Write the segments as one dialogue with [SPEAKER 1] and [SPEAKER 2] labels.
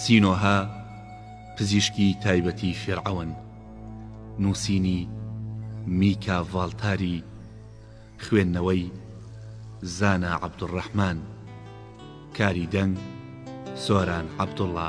[SPEAKER 1] سینۆهە، پزیشکی تایبەتی فیرعەون. نووسینی، میکا ڤاڵتاری. خوێندنەوەی، زانا عەبدولڕەحمان. کاری دەنگ، سۆران عەبدوڵا.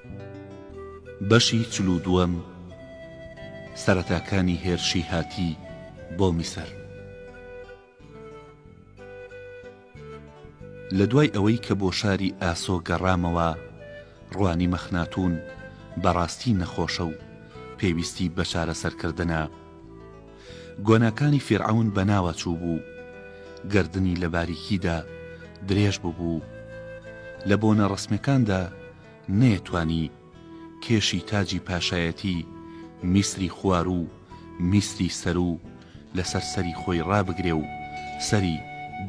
[SPEAKER 1] بەشی چل و دووەم سەرەتاکانی هێرشی هاتی بۆ میسر لە دوای ئەوەی کە بۆ شاری ئاسۆ گەڕامەوە ڕوانی مەخناتون بەڕاستی نەخۆشە و پێویستی بە چارەسەرکردنە گۆناکانی فیرعەون بەناوە چوو بوو گردنی لە باریکیدا درێژ ببوو لە بۆنە ڕسمەکاندا نەیەتوانی کێشی تاجی پاشایەتی میسری خواروو و میسری سەروو لەسەر سەری خۆی ڕابگرێ و سەری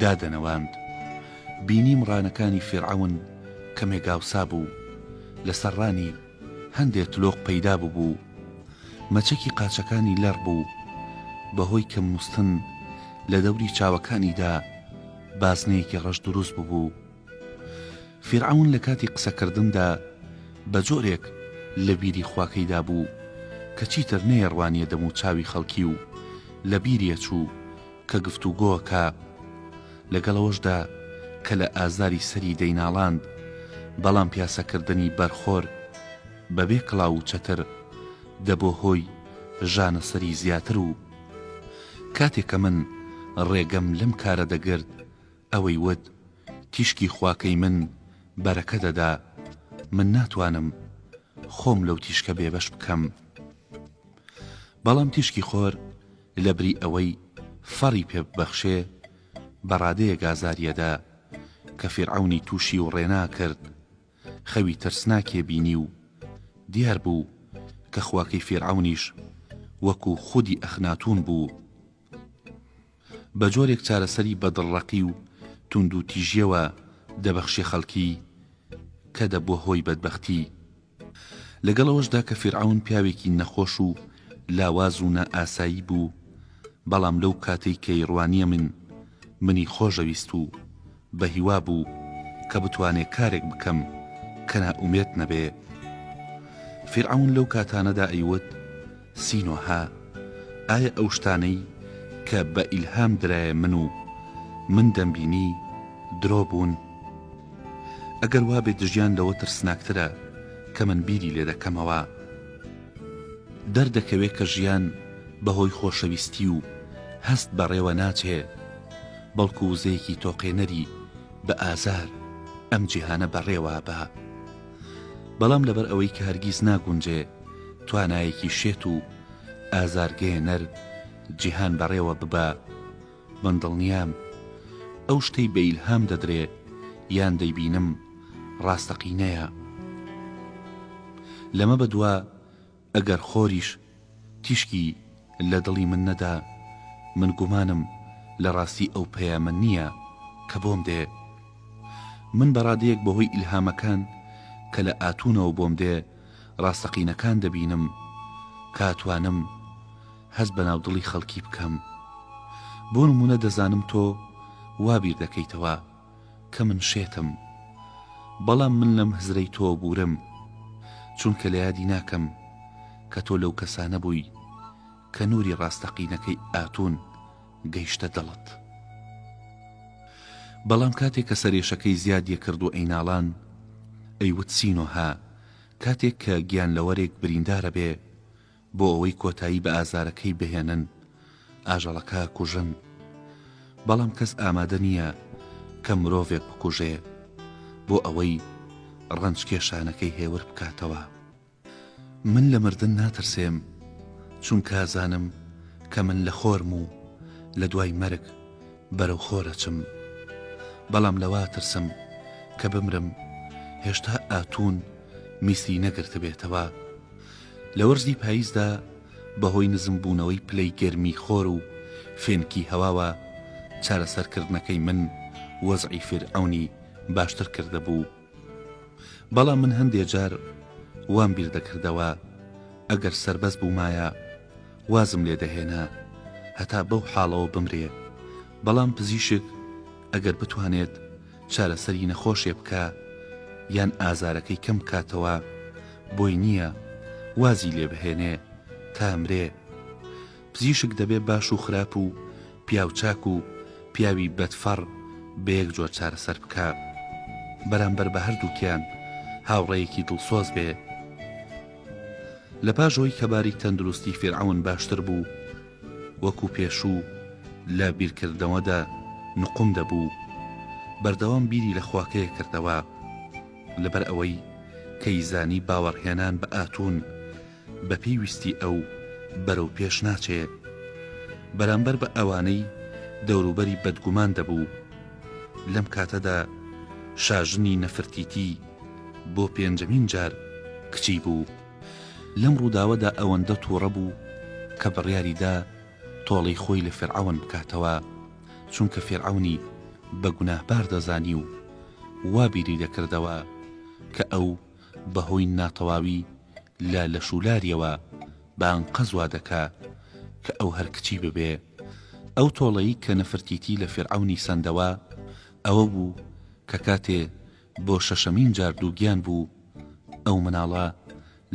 [SPEAKER 1] دادەنەواند. بینی مڕانەکانی فیرعەون کەمێک ئاوسا بوو. لەسەر ڕانی هەندێ تلۆق پەیدا ببوو. مەچەکی قاچەکانی لەڕ بوو. بە هۆی کەم نووستن لە دەوری چاوەکانیدا بازنەیەکی ڕەش دروست ببوو. فیرعەون لە کاتی قسەکردندا بە جۆرێک لە بیری خواکەیدا بوو کە چیتر نەیەڕوانییە دەموو چاوی خەڵکی و لە بیریە چوو کە گفتوگۆکا لەگەڵ ئەوەشدا کە لە ئازاری سەری دەیناڵاند بەڵام پیاسەکردنی بەرخۆر بە بێ کڵاو و چەتر دەبۆ هۆی ژانە سەری زیاتر و کاتێ کە من ڕێگەم لەم کارە دەگرت ئەوەی وت، تیشکی خواکەی من بەرەکە دەدا، من ناتوانم خۆم لەو تیشکە بێبەش بکەم. بەڵام تیشکی خۆر لەبری ئەوەی فەڕی پێ ببەخشێ، بەڕادەیەک ئازاری ئەدا، کە فیرعەونی تووشی وڕێنا کرد، خەوی ترسناکێ بینی و دیار بوو کە خواکەی فیرعەونیش وەکوو خودی ئەخناتوون بوو. بە جۆرێک چارەسەری بە دڵڕەقی و توندوتیژیەوە دەبەخشێ خەڵکی کە دەبووە هۆی بەدبەختی. لەگەڵ ئەوەشدا کە فیرعەون پیاوێکی نەخۆش و لاواز و نا ئاسایی بوو، بەڵام لەو کاتەی کەی ڕوانیە من منی خۆشەویست و بە هیوا بوو کە بتوانێ کارێک بکەم کە نا ئومێد نەبێ. فیرعەون لەو کاتانەدا ئەیوت، سینۆهە، ئایا ئەو شتانەی کە بە ئیلهام درایە من و من دەمبینی، درۆ بوون؟ ئەگەر وا بێ دژیان لەوە ترسناکترە کە من بیری لێ دەکەمەوە. دەردەکەوێ کە ژیان بە هۆی خۆشەویستی و هەست بەڕێوە ناچێ، بەڵکو وزەیەکی تۆقێنەری بە ئازار ئەم جیهانە بەڕێوە با. بەڵام لەبەر ئەوەی کە هەرگیز ناگونجێ توانایەکی شێت و ئازارگەیەنەر جیهان بەڕێوە ببا، من دڵنیام ئەو شتەی بە ئیلهام دەدرێ یان دەیبینم ڕاستەقینەیە. لەمە بەدوا ئەگەر خۆریش تیشکی لە دڵی من نەدا، من گومانم لە ڕاستی ئەو پەیامە نییە کە بۆم دێ. من بە ڕادەیەک بە هۆی ئیلهامەکان کە لە ئاتونەوە بۆم دێ ڕاستەقینەکان دەبینم کە ئەتوانم هەست بە ناودڵی خەڵکی بکەم. بۆ نموونە دەزانم تۆ وا بیر دەکەیتەوە. کە من شێتم بەڵام من لەم هزرەی تۆ بوورم چونکە لە یادی ناکەم کە تۆ لەو کەسانە بووی کە نووری ڕاستەقینەکەی ئاتون گەیشتە دڵت بەڵام کاتێک کە سەرێشەکەی زیاد یەکرد و ئەیناڵان ئەیوت سینۆها کاتێک کە گیان لەوەرێک بریندارە بێ بۆ ئەوەی کۆتایی بە ئازارەکەی بهێنن ئاژەڵەکە کوژن، بەڵام کەس ئامادە نییە کە مرۆڤێک بکوژێ بۆ ئەوەی ڕەنجکێشانەکەی هێور بکاتەوە. من لە مردن ناترسێم چونکە ئەزانم کە من لە خۆرم و لە دوای مەرگ بەرەو خۆر ئەچم، بەڵام لەوە ئەترسم کە بمرم هێشتا ئاتون میسری نەگرتبێتەوە. لە وەرزی پاییزدا بەهۆی نزمبوونەوەی پلەی گەرمی خۆر و فێنکی هەواوە چارەسەرکردنەکەی من وەزعی فیرعەونی باشتر کردبوو بەڵام من هەندێ جار وام بیردەکردەوە ئەگەر سەربەز بوومایە وازم لێ دەهێنا هەتا بەو حاڵەوە بمرێ بەڵام پزیشک ئەگەر بتوانێت چارەسەری نەخۆشێ بکا یان ئازارەکەی کەم بکاتەوە بۆی نییە وازی لێ بهێنێ تا مرێ پزیشک دەبێ باش و خراپ و پیاو چاک و پیاوی بەدفەڕ بە یەک جۆر چارەسەر بکا بەرامبەر بە هەردووکیان هاوڕێیەکی دڵسۆز بێ لە پاش ئەوەی کە باری تەندروستی فیرعەون باشتر بوو وەکو پێشوو لە بیرکردنەوەدا نقوم دەبوو، بەردەوام بیری لە خواکەیە کردەوە. لەبەر ئەوەی کەی زانی باوەڕهێنان بە ئاتون بە پێی ویستی ئەو بەرەو پێش ناچێ. بەرامبەر بە ئەوانەی دەوروبەری بەدگومان دەبوو. لەم کاتەدا شاژنی نەفرتیتی بۆ پێنجەمین جار کچی بوو. لەم ڕووداوەدا ئەوەندە توڕە بوو کە بڕیاری دا تۆڵەی خۆی لە فیرعەون بکاتەوە، چونکە فیرعەونی بە گوناهبار دەزانی و وا بیری دەکردەوە کە ئەو بە هۆی ناتەواوی لە لەشولاریەوە بە ئەنقەست وا دەکا کە ئەو هەر کچی ببێ. ئەو تۆڵەی کە نەفرتیتی لە فیرعەونی سەندەوە ئەوە بوو کە کاتێ بۆ شەشەمین جار دووگیان بوو ئەو مناڵە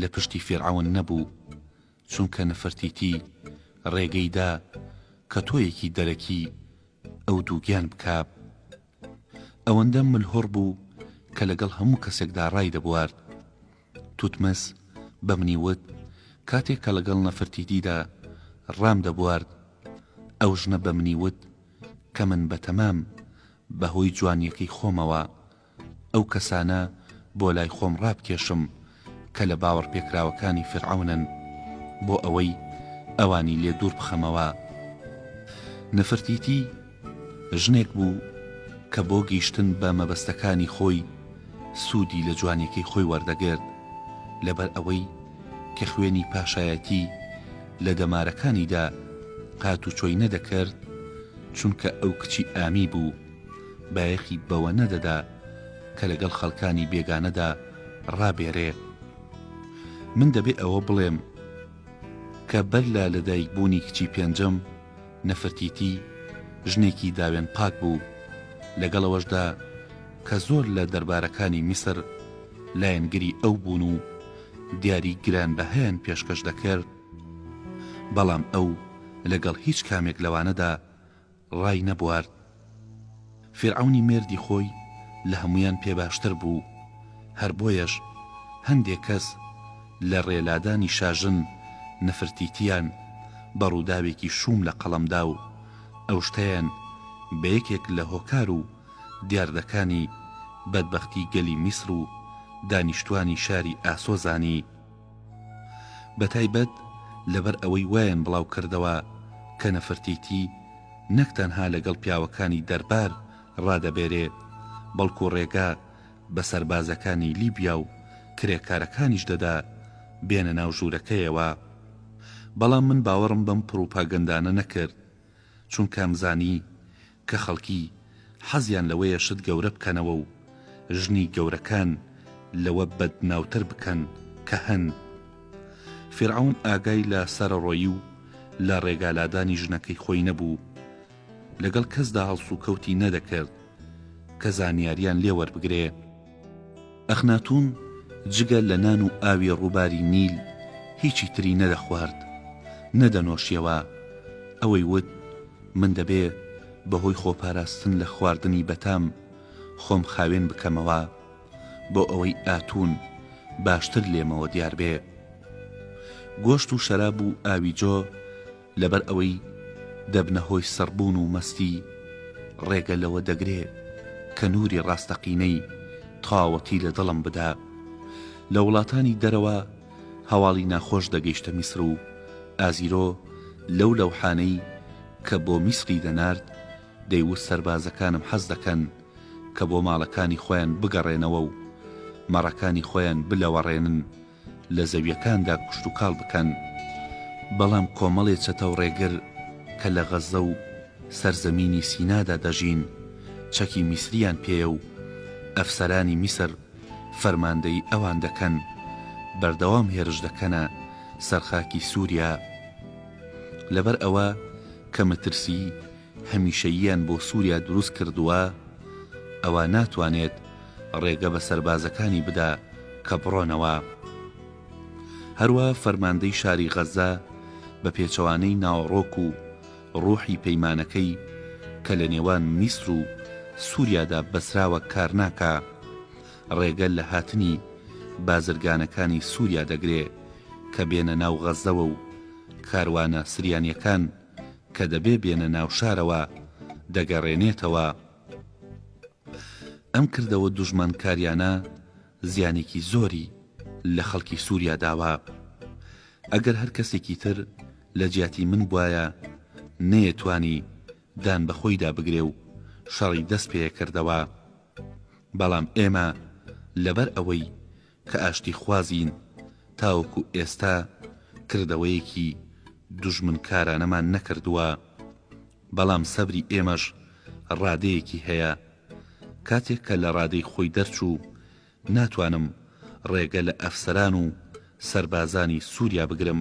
[SPEAKER 1] لە پشتی فیرعەون نەبوو چونکە نفرتیتی ڕێگەی دا کە تۆیەکی دەرەکی ئەو دووگیان بکا ئەوەندە ملهوڕ بوو کە لەگەڵ هەموو کەسێکدا ڕایدەبوارد توتمس بە منی وت، کاتێک کە لەگەڵ نەفرتیتیدا ڕامدەبوارد، ئەو ژنە بە منی وت کە من بە تەمام بە هۆی جوانییەکەی خۆمەوە ئەو کەسانە بۆ لای خۆم ڕابکێشم کە لە باوەڕپێکراوەکانی فیرعەونن بۆ ئەوەی ئەوانی لێ دوور بخەمەوە. نەفرتیتی ژنێک بوو کە بۆ گیشتن بە مەبەستەکانی خۆی سوودی لە جوانیەکەی خۆی وەردەگرت لەبەر ئەوەی کە خوێنی پاشایەتی لە دەمارەکانیدا هاتوچۆی نەدەکرد چونکە ئەو کچی ئامی بوو بایەخی بەوە نەدەدا کە لەگەڵ خەڵکانی بێگانەدا ڕابێرێ من دەبێ ئەوە بڵێم کە بەر لە لەدایکبوونی کچی پێنجەم نفرتیتی ژنێکی داوێن پاک بوو، لەگەڵ ئەوەشدا کە زۆر لە دەربارەکانی میسر لایەنگری ئەو بوون و دیاری گرانبەهایان پێشکەش دەکرد، بەڵام ئەو لەگەڵ هیچ کامێک لەوانەدا ڕای نەبوارد. فیرعەونی مێردی خۆی لە هەموویان پێ باشتر بوو، هەر بۆیەش هەندێ کەس لە ڕێ لادانی شاژن نەفرتیتیان بە ڕووداوێکی شووم لە قەڵەم دا و ئەو شتەیان بە یەکێک لە هۆکار و دیاردەکانی بەدبەختی گەلی میسر و دانیشتووانی شاری ئاسۆ زانی. بەتایبەت لەبەر ئەوەی وایان بڵاو کردەوە کە نەفرتیتی نەک تەنها لەگەڵ پیاوەکانی دەربار ڕادەبێرێ بەڵکو ڕێگا بە سەربازەکانی لیبیا و کرێکارەکانیش دەدا بێنە ناو ژوورەکەیەوە بەڵام من باوەڕم بەم پڕوپاگەندانە نەکرد چونکە ئەمزانی کە خەڵکی حەزیان لەوەیە شت گەورە بکەنەوە و ژنی گەورەکان لەوە بەدناوتر بکەن کە هەن. فیرعەون ئاگای لە سەرەڕۆیی و لە ڕێگالادانی ژنەکەی خۆی نەبوو، لەگەڵ کەسدا هەڵسوکەوتی نەدەکرد کە زانیاریان لێ وەربگرێ، ئەخناتوون جگە لە نان و ئاوی ڕووباری نیل هیچی تری نەدەخوارد، نەدەنۆشیەوە، ئەوەی وت، من دەبێ بەهۆی خۆپاراستن لە خواردنی بەتام خۆم خاوێن بکەمەوە بۆ ئەوەی ئاتوون باشتر لێمەوە دیار بێ. گۆشت و شەراب و ئاوی جۆ، لەبەر ئەوەی دەبنە هۆی سڕبوون و مەستی، ڕێگە لەوە دەگرێ کە نووری ڕاستەقینەی تاوەتی لە دڵم بدا. لە وڵاتانی دەرەوە هەواڵی ناخۆش دەگەیشتە میسر و ئازیرۆ لەو لەوحانەی کە بۆ میسری دەنارد، دەیوت سەربازەکانم حەز دەکەن کە بۆ ماڵەکانی خۆیان بگەڕێنەوە و مەڕەکانی خۆیان بلەوەڕێنن، لە زەویەکاندا کشتوکاڵ بکەن، بەڵام کۆمەڵێ چەتەو ڕێگر کە لە غەززە و سەرزەمینی سینادا دەژین چەکی میسریان پێیە و ئەفسەرانی میسر فەرماندەیی ئەوان دەکەن، بەردەوام هێرش دەکەنە سەر خاکی سوریا لەبەر ئەوە کە مەترسیی هەمیشەییان بۆ سوریا دروست کردووە ئەوا ناتوانێت ڕێگە بە سەربازەکانی بدا کە بڕۆنەوە. هەروا فەرماندەی شاری غەزە بە پێچەوانەی ناوەڕۆک و ڕوحی پەیمانەکەی کە لە نێوان میسر و سوریادا بەسراوە کارناکا ڕێگە لە هاتنی بازرگانەکانی سوریا دەگرێ کە بێنە ناو غەزەوە و کاروانە سریانیەکان کە دەبێ بێنە ناو شارەوە دەگەڕێنێتەوە. ئەم کردەوە دوژمنکاریانە زیانێکی زۆری لە خەڵکی سوریا داوە. ئەگەر هەر کەسێکی تر لە جیاتی من بوایە نەیەتوانی دان بە خۆیدا بگرێ و شەڕی دەست پێ کردەوە. بەڵام ئێمە لەبەر ئەوەی کە ئاشتیخوازین تاوەکو ئێستا کردەوەیەکی دوژمنکارانەمان نەکردووە، بەڵام سەبری ئێمەش ڕادەیەکی هەیە، کاتێک کە لە ڕادەی خۆی دەرچوو ناتوانم ڕێگە لە ئەفسەران و سەربازانی سووریا بگرم،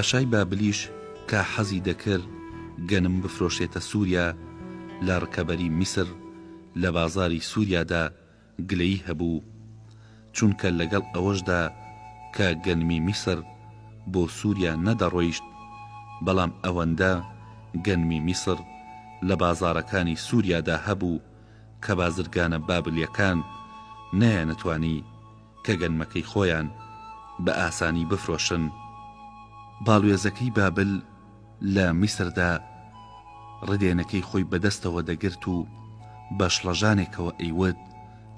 [SPEAKER 1] پاشای بابلیش کە حەزی دەکرد گەنم بفرۆشێتە سووریا لە ڕکەبەری میسر لە بازاری سووریادا گلەیی هەبوو، چونکە لەگەڵ ئەوەشدا کە گەنمی میسر بۆ سووریا نەدەڕۆیشت، بەڵام ئەوەندە گەنمی میسر لە بازاڕەکانی سووریادا هەبوو کە بازرگانە بابلییەکان نەیانتوانی کە گەنمەکەی خۆیان بە ئاسانی بفرۆشن. باڵوێزەکەی بابل، لە میسردا ڕدێنەکەی خۆی بە دەستەوە دەگرت و بە شڵەژانێکەوە ئەیوت،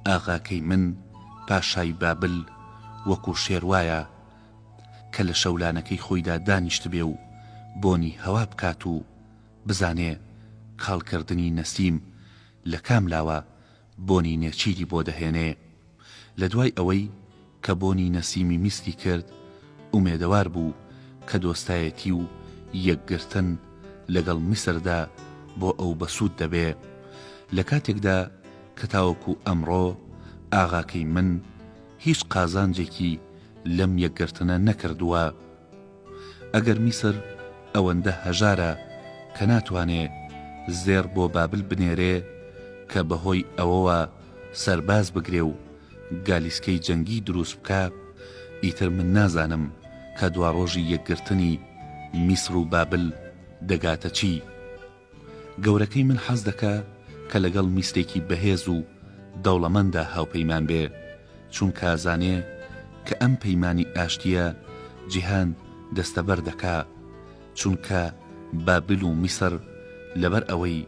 [SPEAKER 1] ئاغاکەی من، پاشای بابل، وەکوو شێر وایە کە لە شەولانەکەی خۆیدا دانیشتبێ و بۆنی هەوا بکات و بزانێ کاڵکردنی نەسیم لە کام لاوە، بۆنی نێچیری بۆ دەهێنێ. لە دوای ئەوەی کە بۆنی نەسیمی میسکی کرد، ئومێدەوار بوو کە دۆستایەتی و یەکگرتن لەگەڵ میسردا بۆ ئەو بەسوود دەبێ. لە کاتێکدا کە تاوەکو ئەمڕۆ ئاغاکەی من هیچ قازانجێکی لەم یەکگرتنە نەکردووە. ئەگەر میسر ئەوەندە هەژارە کە ناتوانێ زێڕ بۆ بابل بنێرێ کە بەهۆی ئەوەوە سەرباز بگرێ و گالیسکەی جەنگی دروست بکا، ئیتر من نازانم کە دواڕۆژی یەکگرتنی میسر و بابل دەگاتە چی؟ گەورەکەی من حەز دەکا کە لەگەڵ میسرێکی بەهێز و دەوڵەمەندا هاوپەیمان بێ، چونکە ئەزانێ کە ئەم پەیمانی ئاشتییە جیهان دەستەبەر دەکا، چونکە بابل و میسر لەبەر ئەوەی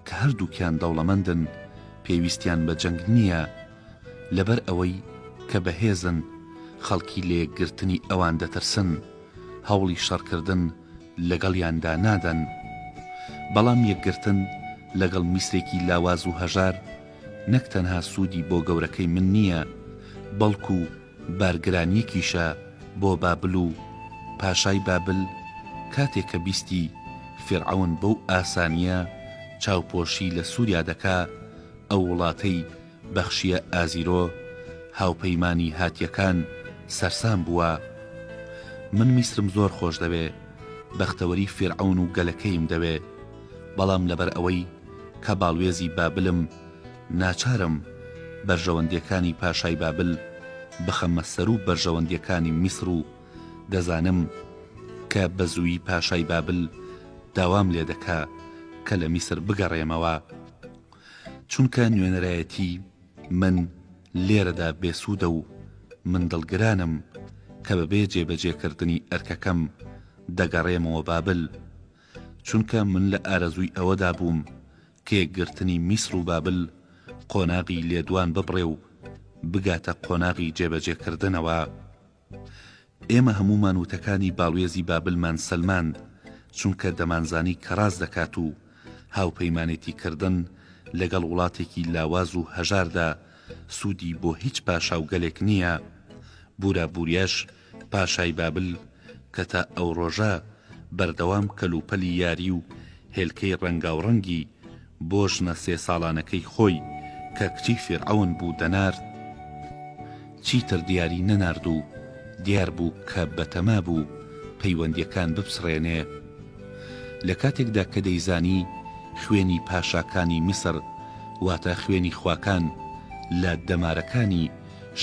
[SPEAKER 1] کە هەردووکیان دەوڵەمەندن پێویستیان بە جەنگ نییە، لەبەر ئەوەی کە بەهێزن خەڵکی لەیەکگرتنی ئەوان دەترسن، هەوڵی شەڕکردن لەگەڵیاندا نادەن، بەڵام یەکگرتن لەگەڵ میسرێکی لاواز و هەژار نەک تەنها سوودی بۆ گەورەکەی من نییە، بەڵکو بارگرانییەکیشە بۆ بابل و پاشای بابل کاتێک کە بیستی فیرعەون بەو ئاسانییە چاوپۆشی لە سووریا دەکا، ئەو وڵاتەی بەخشیە ئازیرۆ هاوپەیمانی هاتیەکان سەرسام بووە من میسرم زۆر خۆش دەوێ بەختەوەری فیرعەون و گەلەکەیم دەوێ بەڵام لەبەر ئەوەی کە باڵوێزی بابلم ناچارم بەرژەوەندیەکانی پاشای بابل بخەمە سەروو بەرژەوەندیەکانی میسر و دەزانم کە بەزووی پاشای بابل داوام لێدەکا کە لە میسر بگەڕێمەوە چونکە نوێنەرایەتی من لێرەدا بێسوودە و من دڵگرانم کە بەبێ جێبەجێکردنی ئەرکەکەم دەگەڕێمەوە بابل، چونکە من لە ئارەزووی ئەوەدا بووم کە یەکگرتنی میسر و بابل قۆناغی لێدوان ببڕێ و بگاتە قۆناغی جێبەجێکردنەوە. ئێمە هەموومان وتەکانی باڵوێزی بابلمان سەلماند، چونکە دەمانزانی کە ڕاست دەکات و هاوپەیمانێتیکردن لەگەڵ وڵاتێکی لاواز و هەژاردا سوودی بۆ هیچ پاشا و گەلێک نییە. بورا بوریاش پاشای بابل کە تا ئەو ڕۆژە بەردەوام کەلوپەلی یاری و هێلکەی ڕەنگاوڕەنگی بۆ ژنە سێ ساڵانەکەی خۆی کە کچی فیرعەون بوو دەنارد چیتر دیاری نەنارد و دیار بوو کە بەتەما بوو پەیوەندیەکان بپچڕێنێ لە کاتێکدا کە دەیزانی خوێنی پاشاکانی میسر واتە خوێنی خواکان لە دەمارەکانی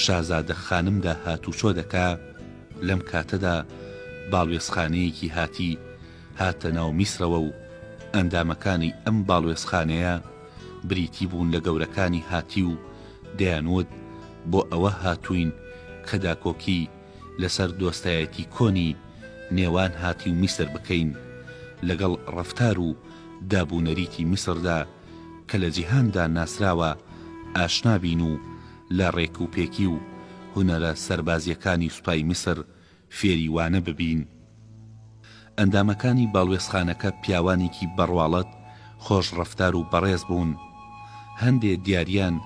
[SPEAKER 1] شازادە خانمدا هاتوچۆ دەکا لەم کاتەدا باڵوێزخانەیەکی هاتی هاتە ناو میسرەوە و ئەندامەکانی ئەم باڵوێزخانەیە بریتی بوون لە گەورەکانی هاتی و دەیانوت بۆ ئەوە هاتووین کە داکۆکی لەسەر دۆستایەتی کۆنی نێوان هاتی و میسر بکەین لەگەڵ ڕەفتار و داب و نەریتی میسردا کە لە جیهاندا ناسراوە ئاشنا بین و لە ڕێکوپێکی و هونەرە سەربازییەکانی سوپای میسر فێری وانە ببین. ئەندامەکانی باڵوێزخانەکە پیاوانێکی بەڕواڵەت، خۆش ڕەفتار و بەڕێز بوون. هەندێ دیاریان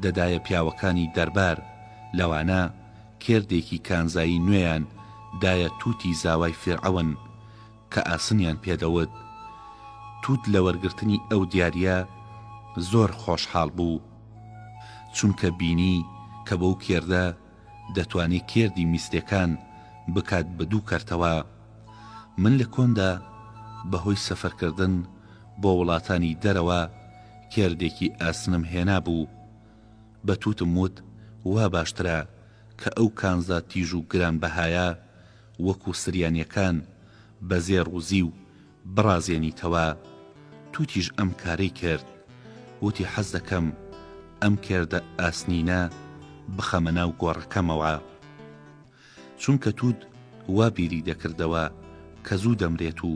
[SPEAKER 1] دەدایە پیاوەکانی دەربار، لەوانە کێردێکی کانزایی نوێیان دایە تووتی زاوای فیرعەون، کە ئاسنیان پێ دەوت. تووت لە وەرگرتنی ئەو دیارییە زۆر خۆشحاڵ بوو. چونکە بینی کە بەو کێردە، دەتوانێ کێردی میستێکان بکات بە دوو کەرتەوە من لە کۆندا بە هۆی سەفەرکردن بۆ وڵاتانی دەرەوە کێردێکی ئاسنم هێنابوو بە تووتم وت وا باشترە کە ئەو کانزا تیژ و گرانبەهایە وەکوو سریانیەکان بە زێڕ و زیو بڕازێنیتەوە توتیش ئەم کارەی کرد وتی حەز دەکەم ئەم کێردە ئاسنینە بخەمە ناو گۆڕەکەمەوە چونکە توت وا بیری دەکردەوە کە زوو دەمرێت و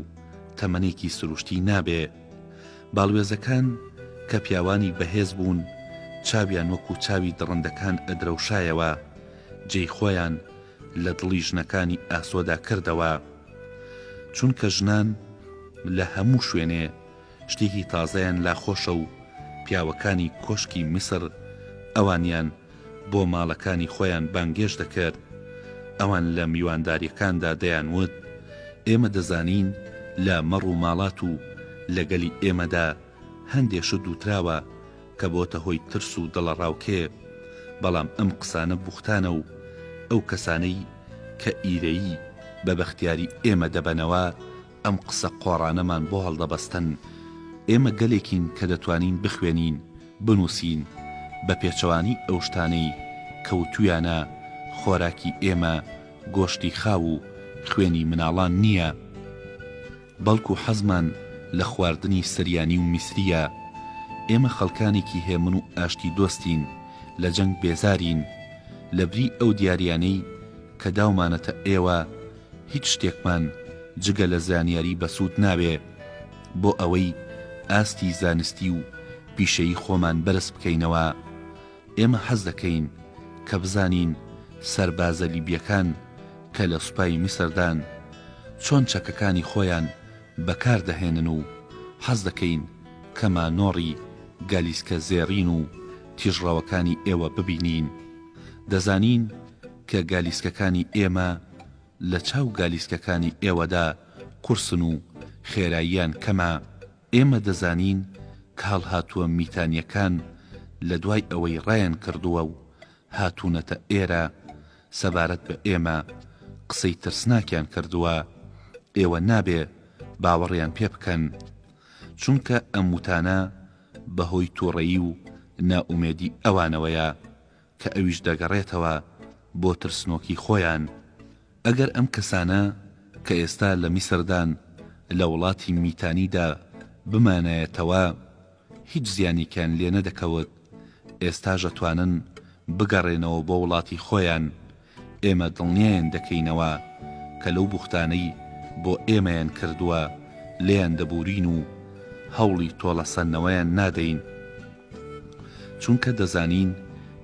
[SPEAKER 1] تەمەنێکی سروشتی نابێ باڵوێزەکان کە پیاوانی بەهێز بوون چاویان وەکو چاوی دڕندەکان ئەدرەوشایەوە جێی خۆیان لە دڵی ژنەکانی ئاسۆدا کردەوە. چونکە ژنان لە هەموو شوێنێ شتێکی تازەیان لا خۆشە و پیاوەکانی کۆشکی میسر ئەوانیان بۆ ماڵەکانی خۆیان بانگێش دەکرد، ئەوان لە میوانداریەکاندا دەیانوت، ئێمە دەزانین لە مەڕ و ماڵات و لە گەلی ئێمەدا، هەندێ شت وتراوە کە بۆتە هۆی ترس و دڵەڕاوکێ، بەڵام ئەم قسانە بوختانە و ئەو کەسانەی کە ئیرەیی بە بەختیاری ئێمە دەبەنەوە ئەم قسە قۆڕانەمان بۆ هەڵدەبەستن. ئێمە گەلێکین کە دەتوانین بخوێنین، بنووسین، بە پێچەوانەی ئەو شتانەی کە وتوویانە، خۆراکی ئێمە گۆشتی خاو و خوێنی مناڵان نییە. بەڵکو حەزمان لە خواردنی سریانی و میسریە، ئێمە خەڵکانێکی هێمن و ئاشتی دۆستین، لە جەنگ بێزارین، لەبری ئەو دیاریانەی کە داومانەتە ئێوە هیچ شتێکمان جگە لە زانیاری بەسود ناوێ بۆ ئەوەی ئاستی زانستی و پیشەیی خۆمان بەرز بکەینەوە ئێمە حەز دەکەین کە بزانین سەربازە لیبیەکان کە لە سوپای میسردان چۆن چەکەکانی خۆیان بەکار دەهێنن و حەز دەکەین کە مانۆڕی گالیسکە زێڕین و تیژڕەوەکانی ئێوە ببینین دەزانین کە گالیسکەکانی ئێمە لە چاو گالیسکەکانی ئێوەدا قورسن و خێراییان کەمە ئێمە دەزانین کە هەڵهاتووە میتانیەکان لە دوای ئەوەی ڕایان کردووە و هاتوونەتە ئێرە سەبارەت بە ئێمە قسەی ترسناکیان کردووە، ئێوە نابێ باوەڕیان پێ بکەن، چونکە ئەم وتانە بە هۆی توڕەیی و نائومێدی ئەوانەوەیە، کە ئەویش دەگەڕێتەوە بۆ ترسنۆکی خۆیان، ئەگەر ئەم کەسانە کە ئێستا لە میسردان لە وڵاتی میتانیدا بمانایەتەوە هیچ زیانێکیان لێنەدەکەوت، ئێستاش ئەتوانن بگەڕێنەوە بۆ وڵاتی خۆیان ئێمە دڵنیایان دەکەینەوە کە لەو بوختانەی بۆ ئێمەیان کردووە لێیان دەبوورین و هەوڵی تۆڵەسەندنەوەیان نادەین، چونکە دەزانین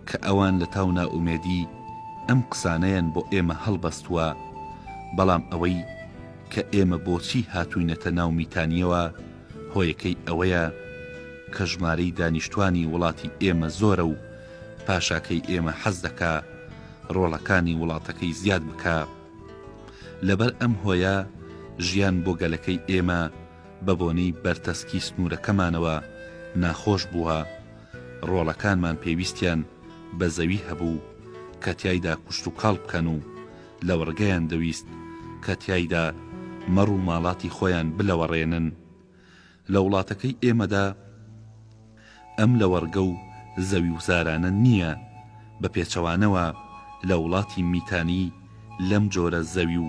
[SPEAKER 1] کە ئەوان لەتاو نائومێدی ئەم قسانەیان بۆ ئێمە هەڵبەستووە، بەڵام ئەوەی کە ئێمە بۆچی هاتووینەتە ناو میتانییەوە هۆیەکەی ئەوەیە کە ژمارەی دانیشتووانی وڵاتی ئێمە زۆرە و پاشاکەی ئێمە حەز دەکا ڕۆڵەکانی وڵاتەکەی زیاد بکا لەبەر ئەم هۆیە ژیان بۆ گەلەکەی ئێمە بە بۆنەی بەرتەسکی سنوورەکەمانەوە ناخۆش بووە ڕۆڵەکانمان پێویستیان بە زەوی هەبوو کە تیایدا کوشت و کاڵ بکەن و لەوڕگەیان دەویست کە تیایدا مەڕ و ماڵاتی خۆیان بلەوەڕێنن لە وڵاتەکەی ئێمەدا ئەم لەوەڕگە و زەویوزارانە نییە، بە پێچەوانەوە لە وڵاتی میتانی لەم جۆرە زەوی و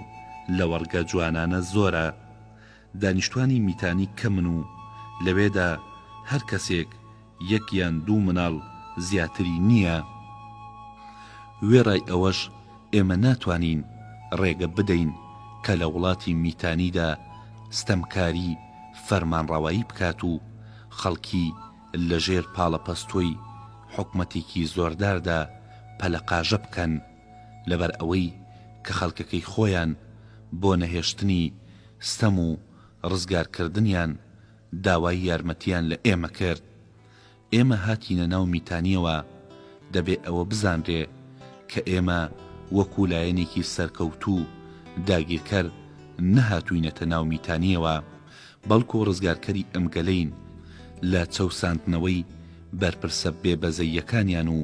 [SPEAKER 1] لەوەڕگە جوانانە زۆرە. دانیشتوانی میتانی کەمن و لەوێدا هەر کەسێک یەک یان دوو مناڵ زیاتری نییە؟ وێڕای ئەوەش ئێمە ناتوانین ڕێگە بدەین کە لە وڵاتی میتانیدا ستەمکاری فەرمانڕەوایی بکات و خەڵکی لە ژێر پاڵەپەستۆی حکومەتێکی زۆرداردا پەلەقاژە بکەن لەبەر ئەوەی کە خەڵکەکەی خۆیان بۆ نەهێشتنی ستەم و ڕزگارکردنیان داوای یارمەتییان لە ئێمە کرد. ئێمە هاتینە ناو میتانییەوە. دەبێ ئەوە بزانرێ کە ئێمە وەکوو لایەنێکی سەرکەوتوو و داگیرکەر نەهاتووینەتە ناو میتانییەوە، بەڵکوو ڕزگارکەری ئەم گەلەین لە چەوساندنەوەی بەرپرسە بێبەزەییەکانیان و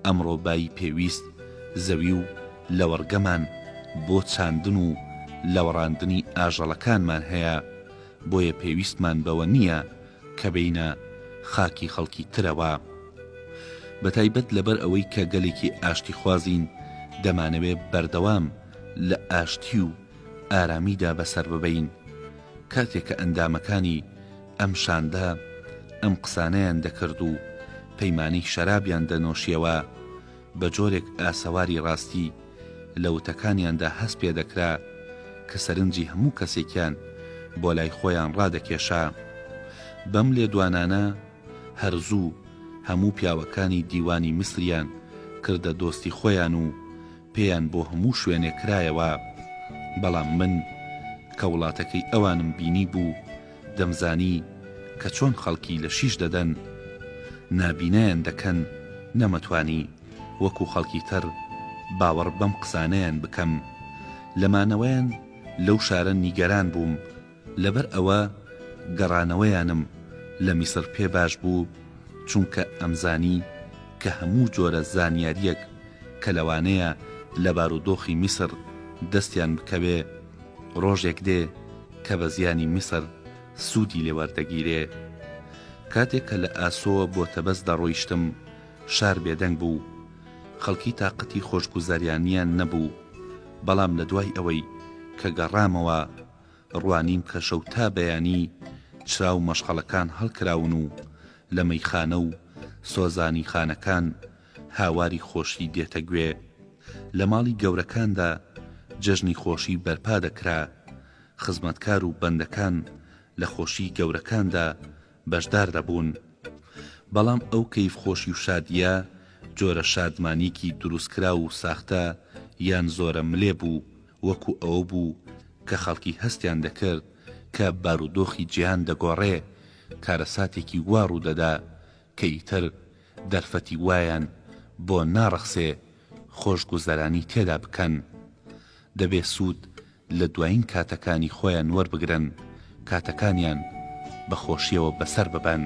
[SPEAKER 1] ئەمڕۆ بایی پێویست زەوی و لەوەڕگەمان بۆ چاندن و لەوەڕاندنی ئاژەڵەکانمان هەیە. بۆیە پێویستمان بەوە نییە کە بێینە خاکی خەڵکی ترەوە. بەتایبەت لەبەر ئەوەی کە گەلێکی ئاشتیخوازین دەمانەوێ بەردەوام لە ئاشتی و ئارامیدا بەسەر ببەین. کاتێ کە ئەندامەکانی ئەم شاندە ئەم قسانەیان دەکرد و پەیمانەی شەرابیان دەنۆشیەوە، بە جۆرێک ئاسەواری ڕاستی لە وتەکانیاندا هەست پێ دەکرا کە سەرنجی هەموو کەسێکیان بۆ لای خۆیان ڕادەکێشا. بەم لێدوانانە هەر زوو هەموو پیاوەکانی دیوانی میسریان کردە دۆستی خۆیان و پێیان بۆ هەموو شوێنێک کرایەوە. بەڵام من کە وڵاتەکەی ئەوانم بینیبوو، دەمزانی کە چۆن خەڵکی لە شیش دەدەن نابینایان دەکەن نەمەتوانی وەکو خەڵکی تر باوەڕ بەم قسانەیان بکەم لە مانەوەیان لەو شارە نیگەران بووم لەبەر ئەوە گەڕانەوەیانم لە میسر پێ باش بوو چونکە ئەمزانی کە هەموو جۆرە زانیاریەک کە لەوانەیە لە بارودۆخی میسر دەستیان بکەوێ ڕۆژێک دێ کە بە زیانی میسر سوودی لێ وەردەگیرێ. کاتێک کە لە ئاسۆوە بۆ تەبەس دەڕۆیشتم، شار بێدەنگ بوو. خەڵکی تاقەتی خۆشگوزەریانیان نەبوو. بەڵام لە دوای ئەوەی کە گەڕامەوە، ڕوانیم کە شەو تا بەیانی چرا و مەشخەڵەکان هەڵکراون و لە مەیخانە و سۆزانیخانەکان، هاواری خۆشی دێتە گوێ. لە ماڵی گەورەکاندا جەژنی خۆشی بەرپا دەکرا، خزمەتکار و بەندەکان لە خۆشیی گەورەکاندا بەشدار دەبوون. بەڵام ئەو کەیفخۆشی و شادییە، جۆرە شادمانییەکی دروستکراو و ساختە یان زۆرە ملێ بوو، وەکو ئەوە بوو کە خەڵکی هەستیان دەکرد کە بارودۆخی جیهان دەگۆڕێ، کارەساتێکی وا ڕوو دەدا کە ئیتر دەرفەتی وایان بۆ ناڕەخسێ خۆشگوزەرانی تێدا بکەن. دەبێ سوود لە دوایین کاتەکانی خۆیان وەربگرن، کاتەکانیان بە خۆشییەوە بەسەر ببەن.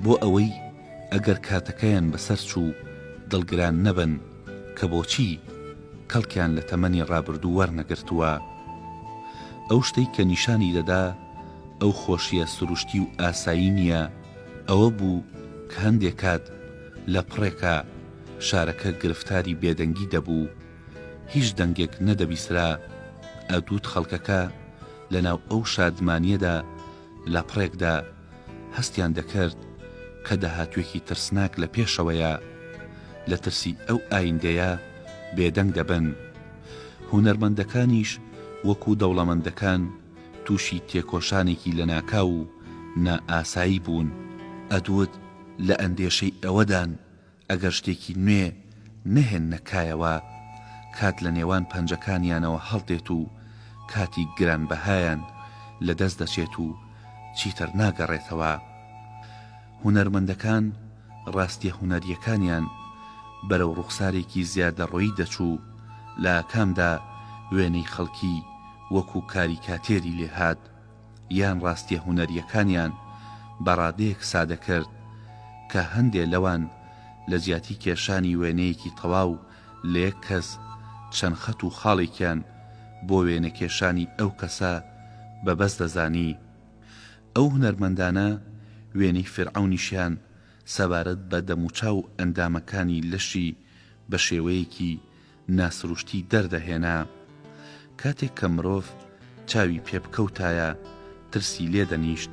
[SPEAKER 1] بۆ ئەوەی ئەگەر کاتەکەیان بەسەر چوو دڵگران نەبن کە بۆچی کەڵکیان لە تەمەنی ڕابردوو وەرنەگرتووە. ئەو شتەی کە نیشانی دەدا ئەو خۆشییە سروشتی و ئاسایی نییە، ئەوە بوو کە هەندێ کات لە پڕێکا شارەکە گرفتاری بێدەنگی دەبوو، هیچ دەنگێک نەدەبیسرا، ئەدووت خەڵکەکە لە ناو ئەو شادمانیەدا لە پڕێکدا هەستیان دەکرد کە داهاتوێکی ترسناک لە پێشەوەیە، لە ترسی ئەو ئایندەیە بێدەنگ دەبن. هونەرمەندەکانیش وەکوو دەوڵەمەندەکان، تووشی تێکۆشانێکی لەناکاو و نائاسایی بوون، ئەدوود لە ئەندێشەی ئەوەدان ئەگەر شتێکی نوێ نەهێننە کایەوە، کات لە نێوان پەنجەکانیانەوە هەڵدێت و کاتی گرانبەهایان لەدەست دەچێت و چیتر ناگەڕێتەوە. هونەرمەندەکان ڕاستیە هونەریەکانیان بەرەو ڕوخسارێکی زیادەڕۆیی دەچوو لە ئاکامدا وێنەی خەڵکی وەکو کاریکاتێری لێهات یان ڕاستیە هونەریەکانیان بە ڕادەیەک سادەکرد کە هەندێ لەوان لە جیاتی کێشانی وێنەیەکی تەواو لە یەک کەس چەند خەت و خاڵێکیان بۆ وێنەکێشانی ئەو کەسە بە بەس دەزانی. ئەو هونەرمەندانە وێنەی فیرعەونیشیان سەبارەت بە دەموچاو و ئەندامەکانی لەشی بە شێوەیەکی ناسروشتی دەردەهێنا. کاتێک کە مرۆڤ چاوی پێ بکەوتایە ترسی لێ دەنیشت.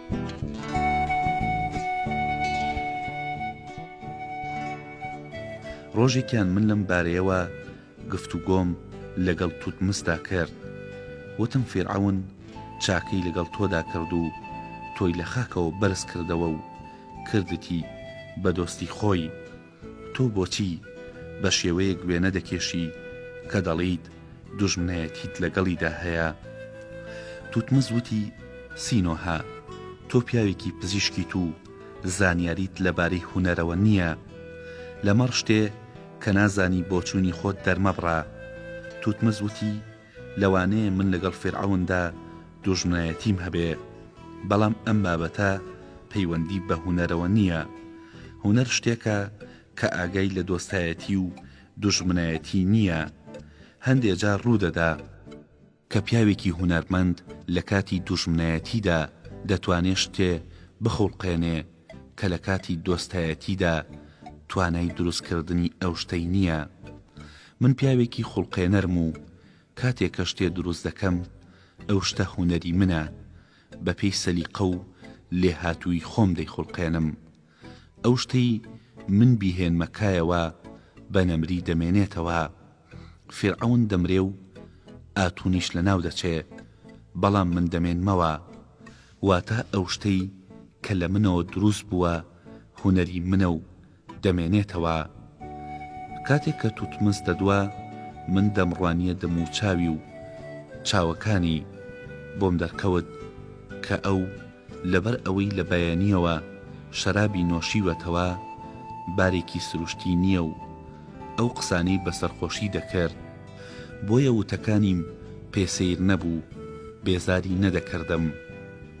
[SPEAKER 1] ڕۆژێکیان من لەم بارەیەوە گفتوگۆم لەگەڵ توتمسدا کرد، وتم فیرعەون چاکەی لەگەڵ تۆدا کرد و تۆی لە خاکەوە بەرز کردەوە و کردتی بە دۆستی خۆی، تۆ بۆچی بە شێوەیەک وێنە دەکێشی کە دەڵێیت دوژمنایەتیت لەگەڵیدا هەیە؟ توتمز وتی، سینۆهە، تۆ پیاوێکی پزیشکیت و زانیاریت لەبارەی هونەرەوە نییە. لەمەڕ شتێ کە نازانی بۆچوونی خۆت دەرمەبڕە. توتمز وتی، لەوانەیە من لەگەڵ فیرعەوندا دوژمنایەتیم هەبێ، بەڵام ئەم بابەتە پەیوەندی بە هونەرەوە نییە. هونەر شتێکە کە ئاگای لە دۆستایەتی و دوژمنایەتی نییە. هەندێ جار ڕوو دەدا. کە پیاوێکی هونەرمەند لە کاتی دوژمنایەتیدا دەتوانێ شتێ بخوڵقێنێ کە لە کاتی دۆستایەتیدا توانای دروستکردنی ئەو شتەی نییە. من پیاوێکی خوڵقێنەرم و کاتێ کە شتێ دروست دەکەم ئەو شتە هونەری منە بە پێی سەلیقە و لێهاتوویی خۆم دەیخوڵقێنم ئەو شتەی من بیهێنمە کایەوە بە نەمری دەمێنێتەوە فیرعەون دەمرێ و ئاتونیش لە ناو دەچێ بەڵام من دەمێنمەوە واتە ئەو شتەی کە لە منەوە دروست بووە هونەری منە و دەمێنێتەوە کاتێک کە توتمس دەدوا من دەمڕوانیە دەم و چاوی و چاوەکانی بۆم دەرکەوت کە ئەو لەبەر ئەوەی لە بەیانیەوە شەرابی نۆشیوەتەوە بارێکی سروشتی نیە و ئەو قسانەی بە سەرخۆشی دەکرد بۆیە وتەکانیم پێ سەیر نەبوو بێزاری نەدەکردم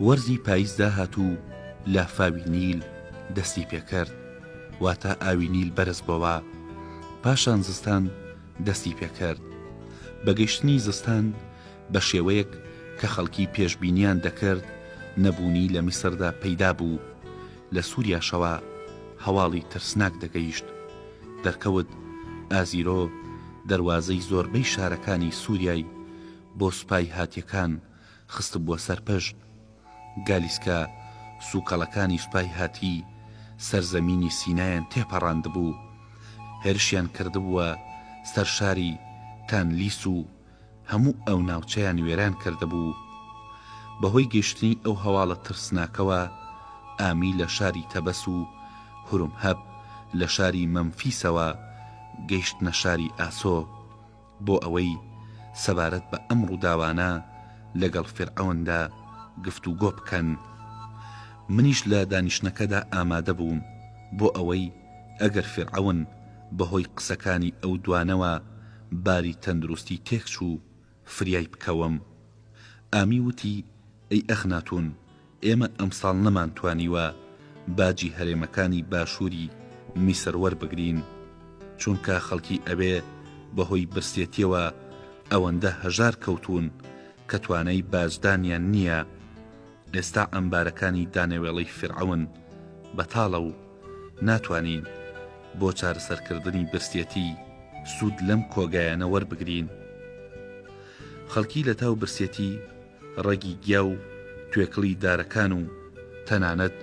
[SPEAKER 1] وەرزی پایز داهات و لافاوی نیل دەستی پێکرد واتا ئاوی نیل بەرز بۆوە پاشان زستان دەستی پێکرد بە گەشتنی زستان بە شێوەیەک کە خەڵکی پێشبینیان دەکرد نەبوونی لە میسردا پەیدا بوو لە سوریاشەوە هەواڵی ترسناک دەگەیشت دەرکەوت ئازیرۆ دەروازەی زۆربەی شارەکانی سوریای بۆ سوپای هاتیەکان خستبووە سەر پشت گالیسکە سوکەڵەکانی سوپای هاتی سەر زەمینی سینایان تێپەڕاندبوو هێرشیان کردبووە سەر شاری تانلیس و هەموو ئەو ناوچەیان وێران کردبوو بەهۆی گەشتنی ئەو هەواڵە ترسناکەوە ئامی لە شاری تەبەس و هورم هەب لە شاری مەمفیسەوە گەیشتنە شاری ئاسۆ بۆ ئەوەی سەبارەت بە ئەم ڕووداوانە لەگەڵ فیرعەوندا گفتوگۆ بکەن. منیش لە دانیشتنەکەدا ئامادە بووم بۆ ئەوەی ئەگەر فیرعەون بەهۆی قسەکانی ئەو دوانەوە باری تەندروستی تێکچوو، فریای بکەوم. ئامی وتی، ئەی ئەخناتون، ئێمە ئەمساڵ نەمانتوانیوە باجی هەرێمەکانی باشووری میسر وەربگرین، چونکە خەڵکی ئەوێ بەهۆی برسێتیەوە ئەوەندە هەژار کەوتوون کە توانای باجدانیان نییە، ئێستا عەمبارەکانی دانەوێڵەی فیرعەون بەتاڵە و ناتوانین بۆ چارەسەرکردنی برسێتی سوود لەم کۆگایانە وەربگرین. خەڵکی لەتاو برسێتی ڕەگی گیا و توێکڵی دارەکان و تەنانەت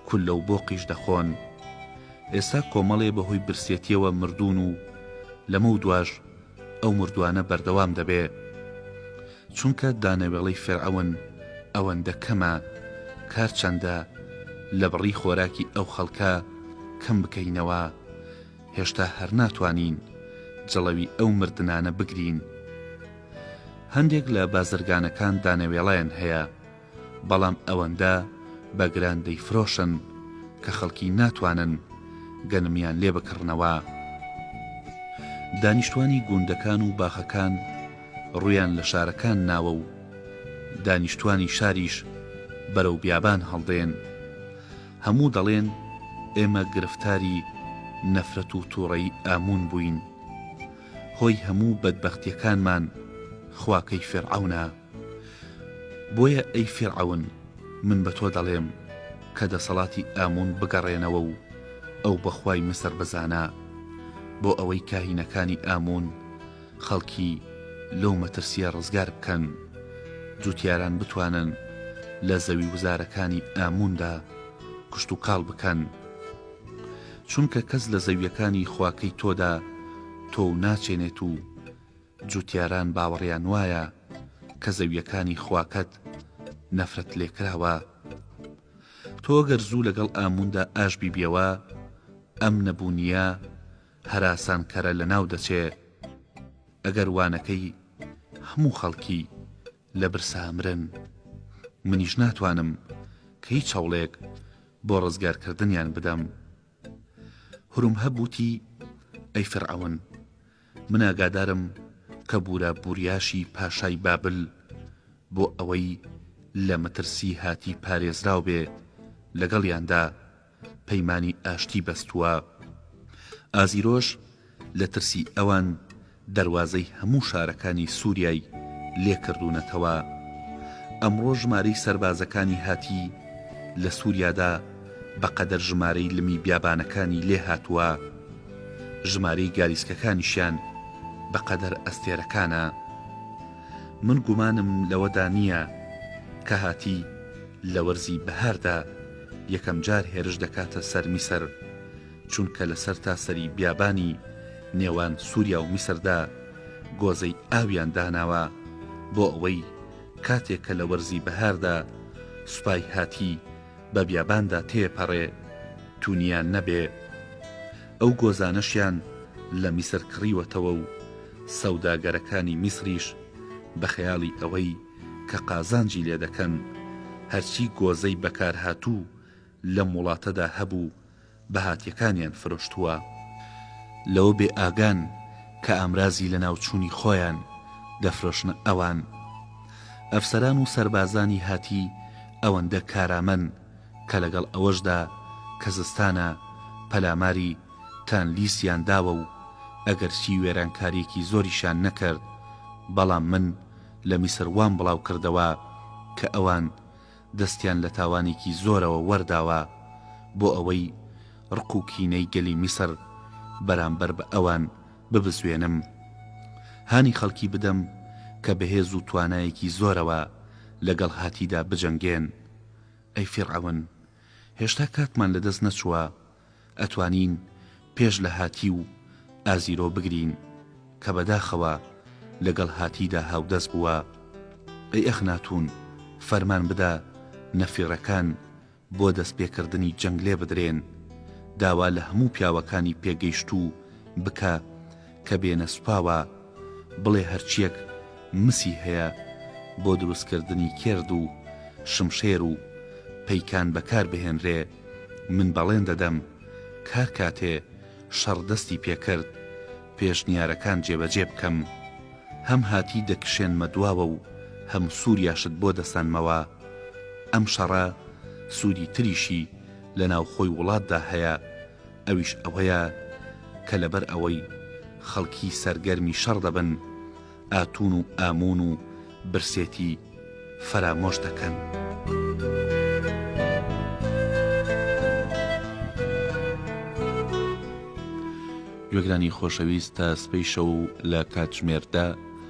[SPEAKER 1] کوللە و بۆقیش دەخۆن. ئێستا کۆمەڵێ بەهۆی برسێتییەوە مردوون و لەمەودواش ئەو مردووانە بەردەوام دەبێ. چونکە دانەوێڵەی فیرعەون ئەوەندە کەمە، کار چەندە لەبڕی خۆراکی ئەو خەڵکە کەم بکەینەوە، هێشتا هەر ناتوانین جڵەوی ئەو مردنانە بگرین. هەندێک لە بازرگانەکان دانەوێڵەیان هەیە، بەڵام ئەوەندە بە گران دەیفرۆشن کە خەڵکی ناتوانن گەنمیان لێ بکڕنەوە. دانیشتوانی گوندەکان و باخەکان ڕوویان لە شارەکان ناوە و دانیشتوانی شاریش بەرەو بیابان هەڵدێن. هەموو دەڵێن ئێمە گرفتاری نەفرەت و توڕەیی ئاموون بووین هۆی هەموو بەدبەختیەکانمان خوا کەی فیرعەونە بۆیە ئەی فیرعەون من بە تۆ دەڵێم کە دەسەڵاتی ئاموون بگەڕێنەوە و ئەو بەخوای مسڕ بزانە بۆ ئەوەی کاهینەکانی ئاموون خەڵکی لەو مەترسیە ڕزگار بکەن، جوتیاران بتوانن لە زەوی وزارەکانی ئامووندا کشتوکاڵ بکەن، چونکە کەس لە زەویەکانی خواکەی تۆدا تۆو ناچێنێت و جوتیاران باوەڕیان وایە کە زەویەکانی خواکەت نەفرەت لێکراوە، تۆ گەر زوو لەگەڵ ئامووندا ئاشبیبیەوە ئەم نەبوونیە هەراسانکەرە لەناو دەچێ ئەگەر وانەکەی هەموو خەڵکی لە برسا مرن منیش ناتوانم کە هیچ هەوڵێک بۆ ڕزگارکردنیان بدەم هورمهەب وتی ئەی فیرعەون من ئاگادارم کە بورا بوریاشی پاشای بابل بۆ ئەوەی لە مەترسی هاتی پارێزراو بێ لەگەڵیاندا پەیمانی ئاشتی بەستووە. ئازیرۆش لە ترسی ئەوان دەروازەی هەموو شارەکانی سوریای لێ کردوونەتەوە. ئەمڕۆ ژمارەی سەربازەکانی هاتی لە سوریادا بە قەدەر ژمارەی لمی بیابانەکانی لێ هاتووە. ژمارەی گالیسکەکانیشیان بە قەدەر ئەستێرەکانە. من گومانم لەوەدا نییە کە هاتی لە وەرزی بەهاردا، یەکەم جار هێرش دەکاتە سەر میسر، چونکە لە سەرتاسەری بیابانی نێوان سووریا و میسردا گۆزەی ئاویان داناوە، بۆ ئەوەی کاتێک کە لە وەرزی بەهاردا سوپای هاتی بە بیاباندا تێپەڕێ، تونیان نەبێ. ئەو گۆزانەشیان لە میسر کڕیوەتەوە و سەوداگەرەکانی میسریش بە خەیاڵی ئەوەی، کە قازانجی لێ دەکەن، هەرچی گۆزەی بەکارهاتوو لەم وڵاتەدا هەبوو بەهاتیەکانیان فرۆشتووە، لەوە بێ ئاگان کە ئامرازی لەناوچوونی خۆیان دەفرۆشنە ئەوان. ئەفسەران و سەربازانی هاتی ئەوەندە کارامەن کە لەگەڵ ئەوەشدا کە زستانە پەلاماری تانلیسیان داوە و ئەگەرچی وێرانکاریەکی زۆریشیان نەکرد بەڵام من لە میسر وام بڵاو کردەوە کە ئەوان دەستیان لە تاوانێکی زۆرەوە وەرداوە بۆ ئەوەی ڕق و کینەی گەلی میسر بەرامبەر بە ئەوان ببزوێنم هانی خەڵکی بدەم کە بە هێز و توانایەکی زۆرەوە لەگەڵ هاتیدا بجەنگێن ئەی فیرعەون هێشتا کاتمان لەدەست نەچووە ئەتوانین پێش لە هاتی و ئازیرۆ بگرین کە بەداخەوە لەگەڵ هاتیدا هاودەست بووە ئەی ئەخناتوون فەرمان بدە نەفیڕەکان بۆ دەستپێکردنی جەنگ لێبدرێن داوا لە هەموو پیاوەکانی پێگەیشتوو بکە کە بێنە سوپاوە بڵێ هەرچیەک مسی هەیە بۆ دروست کردنی کێرد و شمشێر و پەیکان بەکار بهێنرێ من بەڵێن دەدەم کارکاتێ شەڕ دەستی پێکرد پێشنیارەکان جێبەجێ بکەم هەم هاتی دەکشێنمە دواوە و هەم سوریاشت بۆ دەسەنمەوە ئەم شەڕە سودی تریشی لە ناوخۆی وڵاتدا هەیە ئەویش ئەوەیە کە لەبەر ئەوەی خەڵکی سەرگەرمی شەڕ دەبن ئاتون و ئامون و برسێتی فەرامۆش دەکەن. گوێگرانی خۆشەویست تا سبەی شەو لە کاتژمێر دە